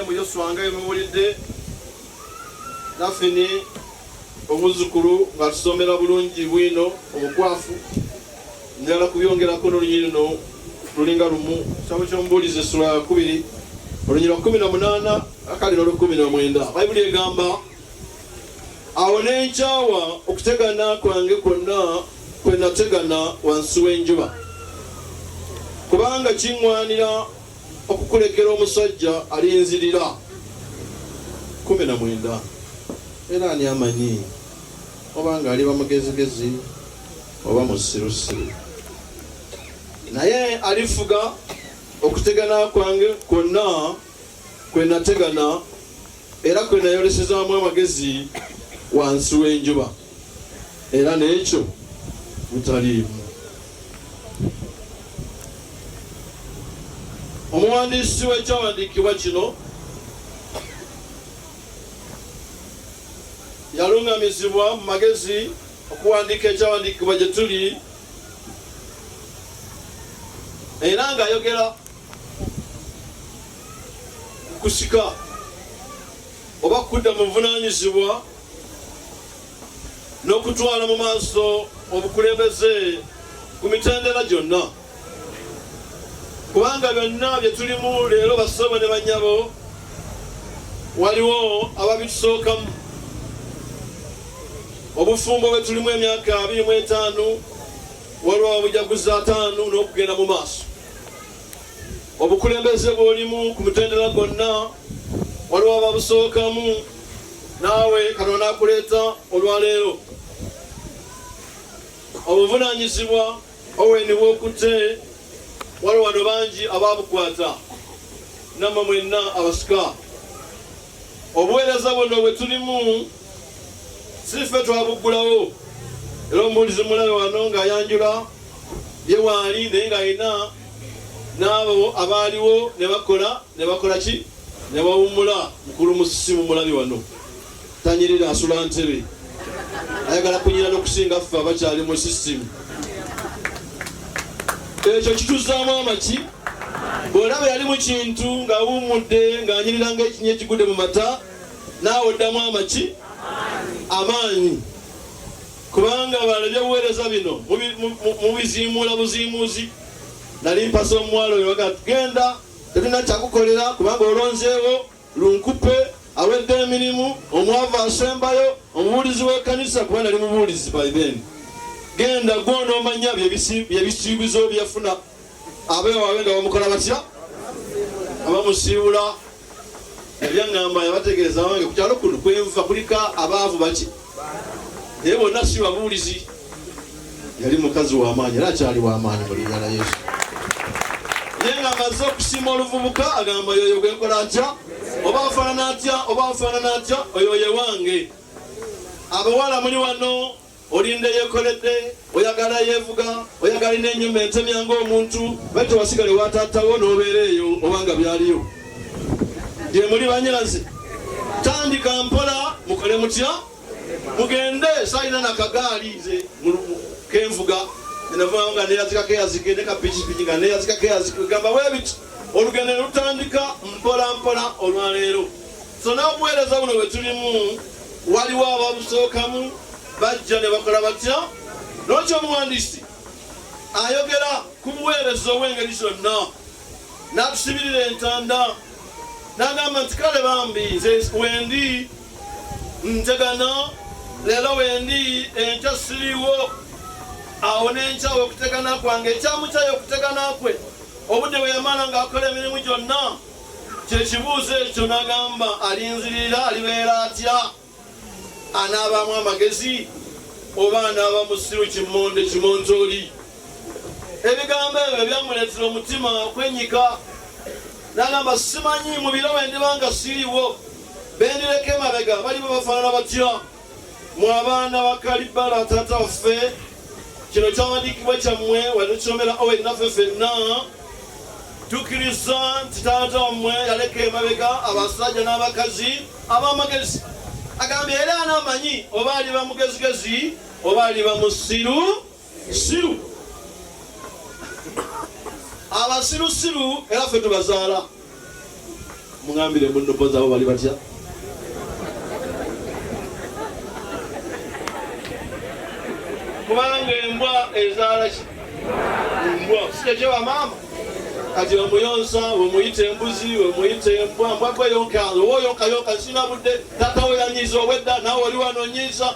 mu yoswa nga yemuwulidde naffe ne omuzzukulu ng'atusomera bulungi bwino obukwafu njala kubyongerako nolunyi luno lulinga lumu kitabo kyomubuulizi essula yakubiri olunyi lwa kumi na munaana akali nolukumi na mwenda bayibuli egamba awo nenkyawa okutegana kwange kwonna kwe nategana wansi w'enjuba kubanga kiŋwanira okukulekera omusajja alinzirira kumi na mwenda era ani amanyi obanga aliba mugezigezi oba musirusiru naye alifuga okutegana kwange kwonna kwe nategana era kwe nayolesezaamu amagezi wansi w'enjuba era n'ekyo butaliimu omuwandiisi w'ekyawandiikibwa kino yalungamizibwa mu magezi okuwandiika ekyawandiikibwa gye tuli era ng'ayogera ku kusika oba kudda mu buvunaanyizibwa n'okutwala mu maaso obukulembeze ku mitendera gyonna kubanga byonna bye tulimu leero basoobo ne bannyabo waliwo ababitusookamu obufumbo bwe tulimu emyaka abiri mu etaano waliwo ababujaguza ataano n'okugenda mu maaso obukulembeze bw'olimu ku mutendera gwonna waliwo ababusookamu naawe katonda akuleeta olwaleero obuvunanyizibwa Owen wokutte wali wano bangi ababukwata namwe mwenna abasika obuweereza buno bwe tulimu sife twabuggulawo era omubuulizi mulabe wano ng'ayanjula ye waali naye ng'alina n'abo abaaliwo ne bakola ne bakola ki ne bawummula mukulu musisi mu mulabe wano tanyirira asula ntebe ayagala kunyira nokusinga ffe abakyali mu sisitimu ekyo kituzaamu amaki bwolaba yali mu kintu ng'awummudde ng'anyirira ng'ekinya ekigudde mu mata naawe oddamu amaki amaanyi kubanga balabye obuweereza bino mubiziimuula buziimuuzi nali mpasa omuwala oyo waga tugenda tetulina kyakukolera kubanga olonzeewo Lunkupe awedde emirimu, omwavu asembayo, omubuulizi w'ekanisa kuba nali mubuulizi by then. Genda gwe onoomanya byebisiibizo byeyafuna abewawe nga bamukola batya abamusiibula ebyaŋŋamba yabategeeza wange ku kyalo kuno kwenva kulika abaavu baki naye bonna si babuulizi yali mukazi w'amaanyi era akyali w'amaanyi mu linnya la Yesu. Naye ng'amaze okusiima oluvubuka agamba yoyo gwe nkola atya oba afaanana atya oba afaanana atya oyo ye wange. Abawala muli wano olinda eyekoledde oyagala yeevuga oyagala ina enyuma entemya ng'omuntu bali tewasigale wataatawo n'obeera eyo oba nga byaliyo gye muli banyirazi tandika mpola mukole mutya mugende salina nakagaali nze kenvuga enavaa nga neyazikako eyazike ne kapikipiki nga neyazikako eyazike gamba webiti olugendo ne lutandika mpola mpola olwaleero so n'obuweereza buno bwe tulimu waliwo ababusookamu bajja ne bakola batya nokyo omuwandiisi ayogera ku buweereza obw'engeri zonna n'atusibirira entanda n'agamba nti kale bambi nze wendi ntegana leero wendi enkya siriwo awo nenkyawo okutegana kwange ekyamukyayo okutegana kwe obudde bwe yamala ng'akola emirimu gyonna kyekibuuzo ekyo nagamba alinzirira alibeera atya anaabaamu amagezi oba anaaba musiru kimonde kimontooli ebigambo ebyo byamuleetera omutima okwenyika nagamba simanyi mu biro bwe ndiba nga siriwo bendireka emabega baliba bafaanana batya mu abaana ba kalibala taata waffe kino kyawandiikibwa kyammwe watukisomera owe naffe fenna tukkiriza nti taata wammwe yaleka emabega abasajja n'abakazi ab'amagezi agambye era anaamanyi oba aliba mugezigezi oba aliba musiru siru abasiru siru era fe tubazaala mugambire munobo zabo bali batya kubanga embwa ezaala ki embwa sikekye wa maama kati omuyonsa wemuyita embuzi wemuyita embwa mbwagwe yonka owoyonka yonka sina budde tata weyanyiza obwedda nawe oli wanonyiza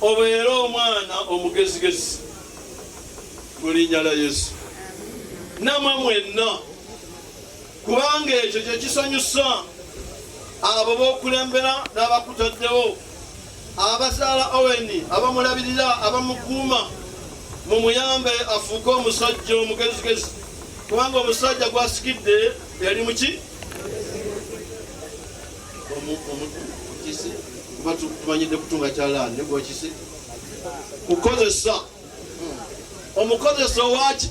Obeere omwana omugezigezi mu linnya lya Yesu, namwe mwenna, kubanga ekyo kye kisanyusa abo b'okulembera n'abakutaddewo, abazaala Oweni, abamulabirira, abamukuuma, mumuyambe afuuke omusajja omugezigezi, kubanga omusajja gwasikidde yali muki omukisi kuba tumanyidde kutunga kyalaani ne gwekisi kukozesa omukozesa owaki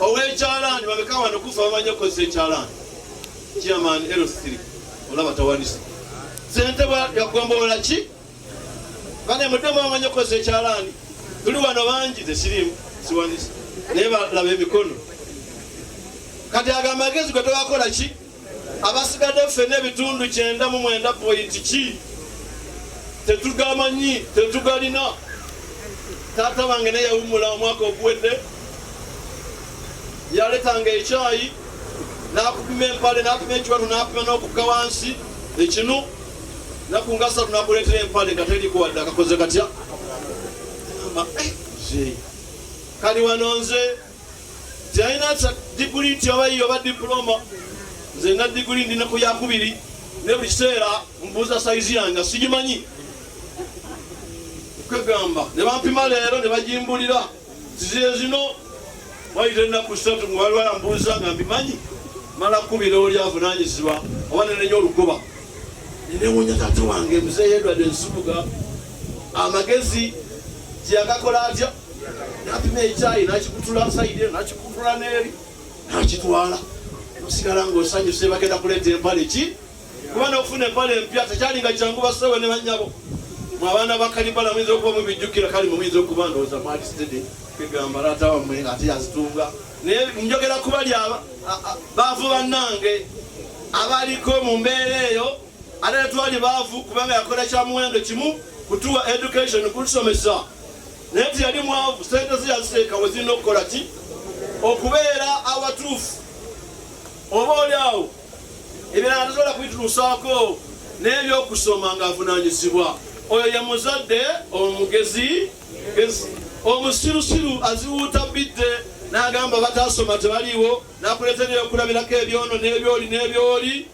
owekyalaani babeka wano kufa bamanyi okukozesa ekyalaani chairman l3 olaba tawanise sente yagombolola ki bane mudemu bamanyi okukozesa ekyalaani tuli wano bangi tesirimu siwanise naye balaba emikono kati agamagezi gwe togakola ki abasigadde ffena ebitundu kyenda mu mwenda pointi ki tetugamanyi tetugalina taata bange ne yawumula omwaka oguwedde yaletanga ekyayi nakupima empale nakuma ekiwatu nakuma n'okukka wansi ekinu nakunga satu nakuleetera empale nga terikuwadde akakoze katya eh, kali wano nze teyalina diguli nti oba yiyo oba dipuloma nze na diguli ndi ne ku yakubiri ne buli kiseera mbuuza sayizi yange sigimanyi kwegamba ne bampima leero ne bagimbulira ziziye zino wayita ennaku satu nga waliwo yambuuza nga mbimanyi mala kubira oli avunanyizibwa oba nenenya olugoba nenewunya tata wange muzeeyedwadde nsubuga amagezi gyeyagakola atya napima ekyayi nakikutula saidi nakikutula neeri nakitwala osigala ngaosanyuse bagenda kuleeta empale ki kuba nokufuna empale empya tekyalinga kyangu basewe ne banyabo mu abaana bakalibala muyinza okuba mubijjukira kali mumuyinza okuba ndowooza mwali sitede kegamba laata wamwe ate yazitunga naye njogera kubali baavu bannange abaliko mu mbeera eyo ate netwali baavu kubanga yakola kya muwendo kimu kutuwa education kutusomesa naye nti yali mwavu sente ze yaziteeka we zirina okukola ki okubeera awatuufu oba oli awo ebirala tasobola kubituusaako n'ebyokusoma ng'avunaanyizibwa oyo ye muzadde omugezi gezi omusirusiru aziwuuta bidde n'agamba bataasoma tebaliiwo n'akuleetera ebyokulabirako ebyono n'ebyoli n'ebyoli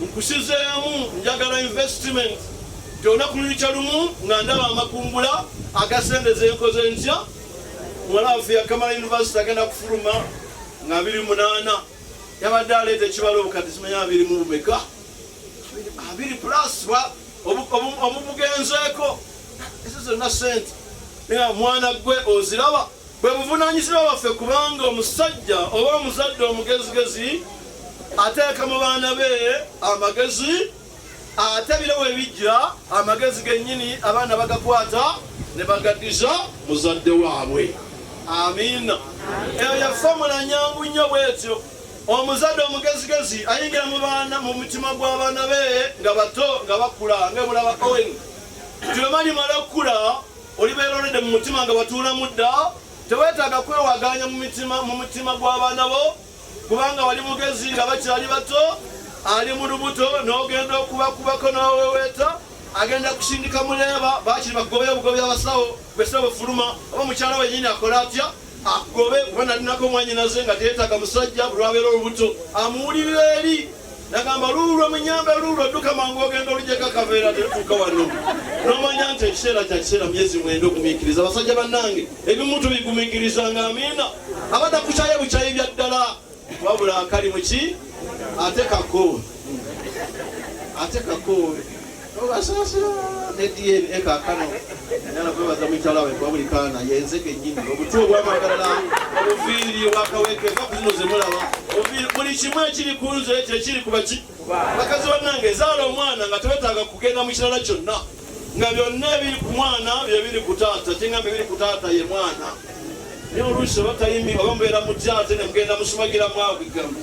nkusizeemu njagala investment gyona kululukya lumu nga ndaba amakungula agasendeza enkoze ntya muwala waffe yakamala univesity agenda kufuluma nga 28 yabadde aleeta ekibalo obukadde simanya abiri mu bumeka abiri plus omubugenzeeko ezo zonna sente naye mwana gwe oziraba Bwe buvunaanyizibwa bwaffe kubanga omusajja oba omuzadde omugezigezi ateeka mu baana be amagezi ate biro we bijja amagezi gennyini abaana bagakwata ne bagaddiza muzadde waabwe. Amiina. Eyo ya fomula nyangu nnyo bw'etyo. Omuzadde omugezigezi ayingira mu baana mu mutima gw'abaana be nga bato nga bakula nga mulaba Owen. Tulema limala okukula Olibeera olidde mu mutima nga watuulamu dda, teweetaaga kwewagaanya mu mitima mu mutima gw'abaana bo kubanga wali mugezi nga bakyali bato, ali mu lubuto n'ogenda okubakubako n'oweweeta agenda kusindika muleeba bakiri bagobe obugobi abasawo bwesira bwefuluma oba mukyala wenyini akola atya agobe kuba nalinako omwanyinaze nga teetaaga musajja bulwabeera olubuto amuwulirira eri nagamba luulwo munyambe luulwo dduka mangu ogenda olujeko akaveera tetuuka wano nomanya nti ekiseera kya kiseera myezi mwenda ogumiikiriza abasajja bannange ebimu tubigumiikiriza nga amiina abadda kukyaye bukyayi bya ddala wabula akali muki ate kako ate kako Nobasaasira ne DNA kaakano nyala kwebaza mukyala we kuba buli kaana yenze kennyini obutwa obwamagalala obuviiri obwakaweke va kuzino ze mulaba buli kimu ekiri ku nze ekyo ekiri ku baki bakazi bannange ezaala omwana nga tewetaaga kugenda mu kirala kyonna nga byonna ebiri ku mwana bye biri ku taata kyengambe biri ku taata ye mwana naye oluusi oba tayimi oba mubeera mutya ate ne mugenda musumagiramu agigamba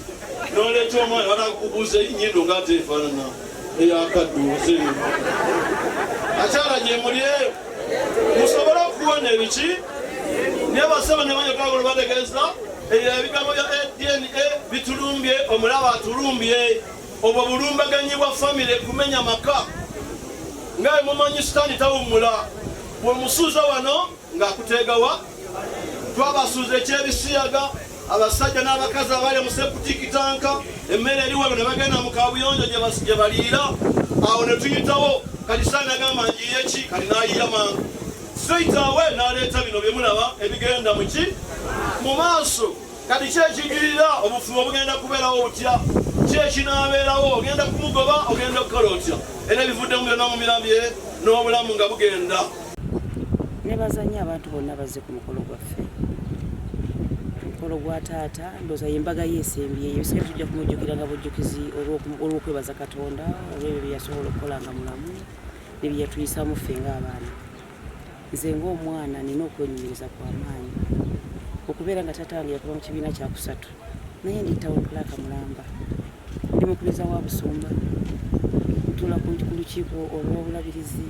noleeta omwana banakubuuza enyindo nga ateefaanana eyakadduuzi akyala gye muli eyo musobole okuwona ebiki naye basaba ne banyota golo bategeeza ebyo ebigambo bya dna bitulumbye omulaba atulumbye obwo bulumbaganyi bwa famire kumenya maka nga emumanyi sitaani tawummula bwemusuuza wano nga kuteegawa twabasuuza ekyebisiyaga abasajja n'abakazi abali mu seputikitanka emmere eri wano ne bagenda mu kabuyonjo gye baliira awo ne tuyitawo kati saani agamba njiye ki kati n'ayiya mangu straight away n'aleeta bino bye mulaba ebigenda mu ki mu maaso kati ki ekijirira obufumo bugenda kubeerawo butya ki ekinaabeerawo ogenda kumugoba ogenda okukola otya era ebivuddemu byonna mu mirambye n'obulamu nga bugenda nebaza nnyo abantu bonna bazze ku mukolo gwaffe mukolo gwa taata ndoza yembaga yesembyeyo ebiseera tujja kumujjukira nga bujjukizi olw'okwebaza katonda olwebyo byeyasobola okukola nga mulamu nebyeyatuyisamu ffe ng'abaana nze ng'omwana nina okwenyumiriza kwa maanyi okubeera nga taata wange yakuba mu kibiina kyakusatu naye ndi town clark mulamba Ndi mukubiriza wa Busumba okutuula ku lukiiko olw'obulabirizi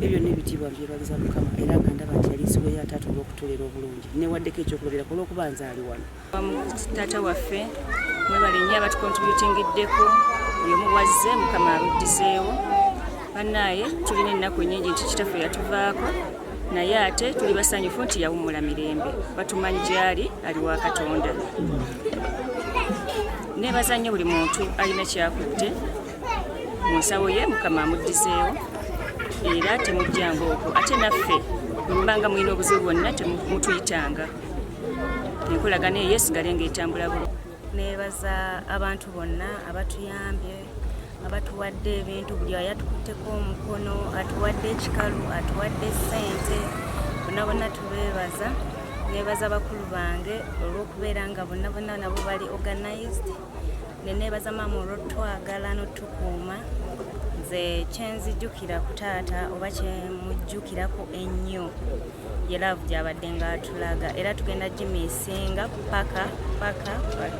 ebyo byonna ebitiibwa mbyebaliza Mukama era nga ndaba nti yali nsigo ya taata olw'okutuulera obulungi newaddeko ekyokulabirako olw'okuba nzaali wano. Taata waffe mwebale nnyo abatukontributingiddeko buli omu bwazze Mukama abuddizeewo bannaaye tulina ennaku ennyingi nti kitaffe yatuvaako naye ate tuli basanyufu nti yawummula mirembe batumanyi gyali ali wa katonda nebaza nnyo buli muntu alina kyakutte mu nsawo ye mukama amuddizeewo era temujjanga okwo ate naffe mubanga mulina obuzibu bwonna temutuyitanga enkolagana eyo esigale ngaetambula bulo nebaza abantu bonna abatuyambye abatuwadde ebintu buli ayatukutteko omukono atuwadde ekikalu atuwadde sente bona bona tubebaza nebaza bakulu bange olwokubeera nga bonna bonna nabo bali organized nenebaza maama olwotwagala notukuuma nze kyenzijukira ku taata oba kyemujjukirako ennyo ye laavu gy'abadde ng'atulaga era tugenda gimiisinga paka paka paka